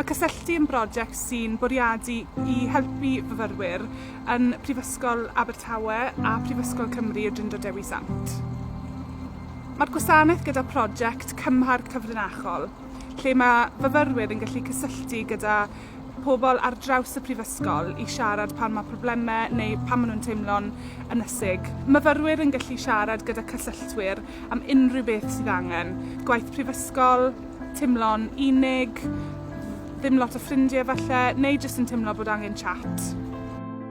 Mae Cysylltu yn brosiect sy'n bwriadu i helpu fyfyrwyr yn Prifysgol Abertawe a Phrifysgol Cymru y Drindod Dewi Sant. Mae'r gwasanaeth gyda prosiect Cymharc Cyfrinachol, lle mae fyfyrwyr yn gallu cysylltu gyda pobl ar draws y Prifysgol i siarad pan mae problemau neu pan maen nhw'n teimlo'n ynysig. Myfyrwyr yn gallu siarad gyda cysylltwyr am unrhyw beth sydd angen, gwaith prifysgol, teimlo'n unig, ddim lot o ffrindiau falle, neu jyst yn teimlo bod angen chat.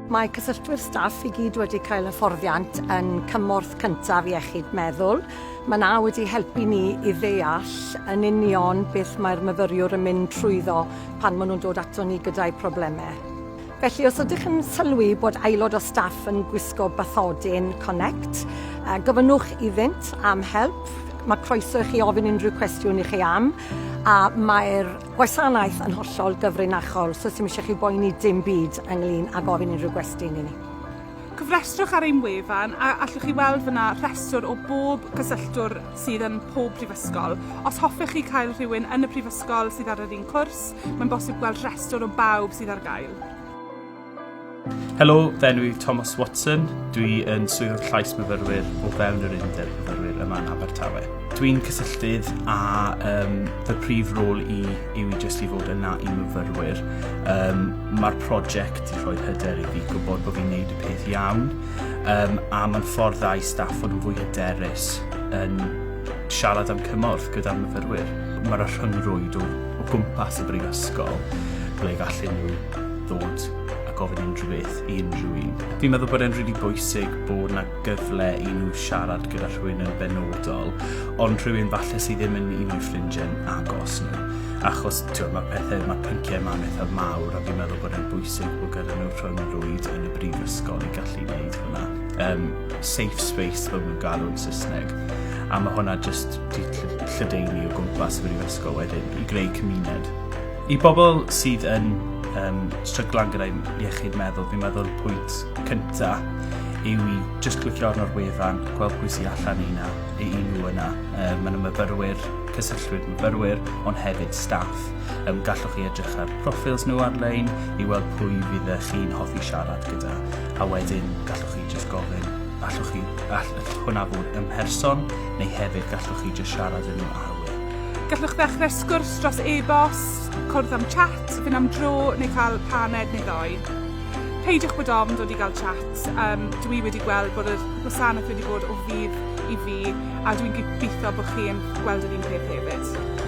Mae cysylltwyr staff i gyd wedi cael hyfforddiant yn cymorth cyntaf iechyd meddwl. Mae na wedi helpu ni i ddeall yn union beth mae'r myfyriwr yn mynd trwyddo pan maen nhw'n dod ato ni gyda'u problemau. Felly, os ydych yn sylwi bod aelod o staff yn gwisgo bathodyn Connect, gofynnwch iddynt am help. Mae croeso i chi ofyn unrhyw cwestiwn i chi am, a mae'r gwasanaeth yn hollol gyfrinachol, so 'sdim eisiau chi boeni dim byd ynglyn â gofyn unrhyw gwestiwn i ni. Cofrestrwch ar ein wefan a allwch chi weld fyna rhestr o bob cysylltwr sydd yn pob prifysgol. Os hoffech chi cael rhywun yn y prifysgol sydd ar yr un cwrs, mae'n bosib gweld rhestr o bawb sydd ar gael. Helo, fy enw i Thomas Watson. Dwi yn Swyddog Llais Myfyrwyr o fewn yr Undeb Myfyrwyr yma yn Abertawe. Dwi'n cysylltydd a um, fy prif rôl i yw i jyst i fod yna i myfyrwyr. Um, Mae'r prosiect i rhoi hyder i fi gwybod bod fi'n neud y peth iawn um, a mae'n ffordd dda i staff fod yn fwy hyderus yn siarad am cymorth gyda'r myfyrwyr. Mae'r rhyngrwyd o, o gwmpas y brifysgol ble gallu nhw ddod a gofyn unrhyw beth i unrhyw un. Fi'n meddwl bod e'n rili really bwysig bod yna gyfle i nhw siarad gyda rhywun yn benodol, ond rhywun falle sydd ddim yn un o'i ffrindiau'n agos nhw. Achos, ti'n mae pethau, mae pynciau yma'n eithaf mawr, a fi'n meddwl bod e'n bwysig bod gyda nhw rhwng y rwyd yn y brifysgol i gallu gwneud hwnna. Um, safe space, fel nhw'n galw'n Saesneg. A mae hwnna jyst di lledeini o gwmpas y brifysgol wedyn i greu cymuned. I bobl sydd yn um, stryglan gyda'i iechyd meddwl, fi'n meddwl pwynt cynta yw i jyst clicio arno'r wefan, gweld pwy sy'n allan i na, i nhw yna. Um, Mae'n myfyrwyr, cysylltwyr myfyrwyr, ond hefyd staff. Um, gallwch chi edrych ar proffils nhw ar-lein i weld pwy fydd chi'n hoffi siarad gyda. A wedyn gallwch chi jyst gofyn, allwch chi, all, hwnna fod yn person, neu hefyd gallwch chi jyst siarad yn nhw ar Gallwch ddechrau sgwrs dros e-bost, cwrdd am chat, fynd am dro neu cael paned neu ddoi. Peidiwch bod ofn dod i gael chat, yym, dw i wedi gweld bod yr gwasanaeth wedi bod o fudd i fi a dwi'n gobeithio bod chi'n gweld yr un peth hefyd.